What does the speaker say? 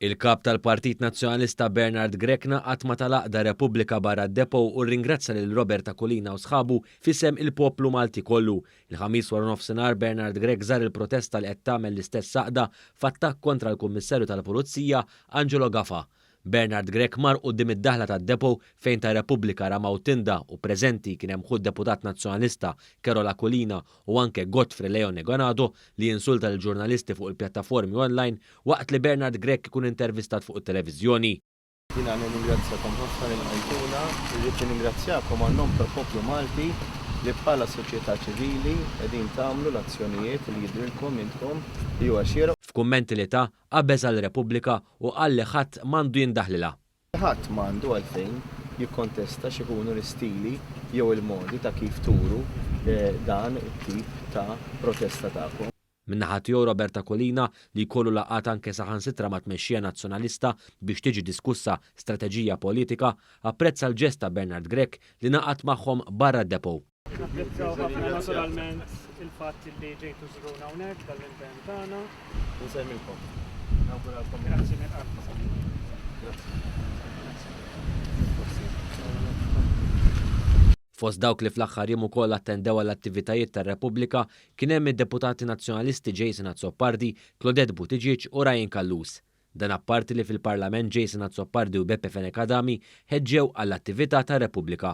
Il-Kap tal-Partit Nazzjonalista Bernard Grech ngħaqad ma' tal-għaqda Repubblika barra d-Depot u rringrazzja lil Robert Aquilina u sħabu f'isem il-poplu Malti kollu. Il-Ħamis waranofsinhar Bernard Grech żar il-protesta li qed tagħmel l-istess għaqda f'attakk kontra l-Kummissarju tal-Pulizija Angelo Gafa. Bernard Grech mar quddiem id-daħla tad-depot fejn ta Repubblika ramaw tinda u preżenti kien hemm ħu d-Deputat Nazzjonalista Carol Aquilina u anke Godfrey Leon Egonado li insulta lill-ġurnalisti fuq il-pjattaformi online waqt li Bernard Grech ikun intervistat fuq it-televiżjoni. Jiena nirringrazzjakom ħafna li lqajtuna. Irrid nirringrazzjakom għan-nom tal-poplu Malti li bħala soċjetà ċivili qegħdin tagħmlu l-azzjonijiet li jidhrilkom intkom li huwa xieraq. F'kummenti li ta, Qabeż għall-Repubblika u qal li ħadd m'għandu jindaħlilha. Ħadd m'għandu għalfejn jikkontesta x'ikunu l-istili jew il-modi ta' kif turu dan it-tip ta' protesta tagħkom. Min-naħa tiegħu Robert Aquilina, li jkollu laqgħat anke saħansitra mat-tmexxija Nazzjonalista biex tiġi diskussa strateġija politika, apprezza l-ġest ta' Bernard Grech li ngħaqad magħhom barra d-depot. Napprezzaw ħafna naturalment il-fatt li ġejtu żruna hawnhekk tal-impenn tagħna. Nsemmilkom. Nawguralkom. Grazzi minn qalb. Grazzi. Fost dawk li fl-aħħar jiem ukoll attendew għal attivitajiet tar-Repubblika kien hemm id-deputati Nazzjonalisti Jason Azzopardi, Claudette Buttigieg u Ryan Callus. Dan apparti li fil-Parlament Jason Azzopardi u Beppe Fenech Adami ħeġġew għall-attività ta' Repubblika.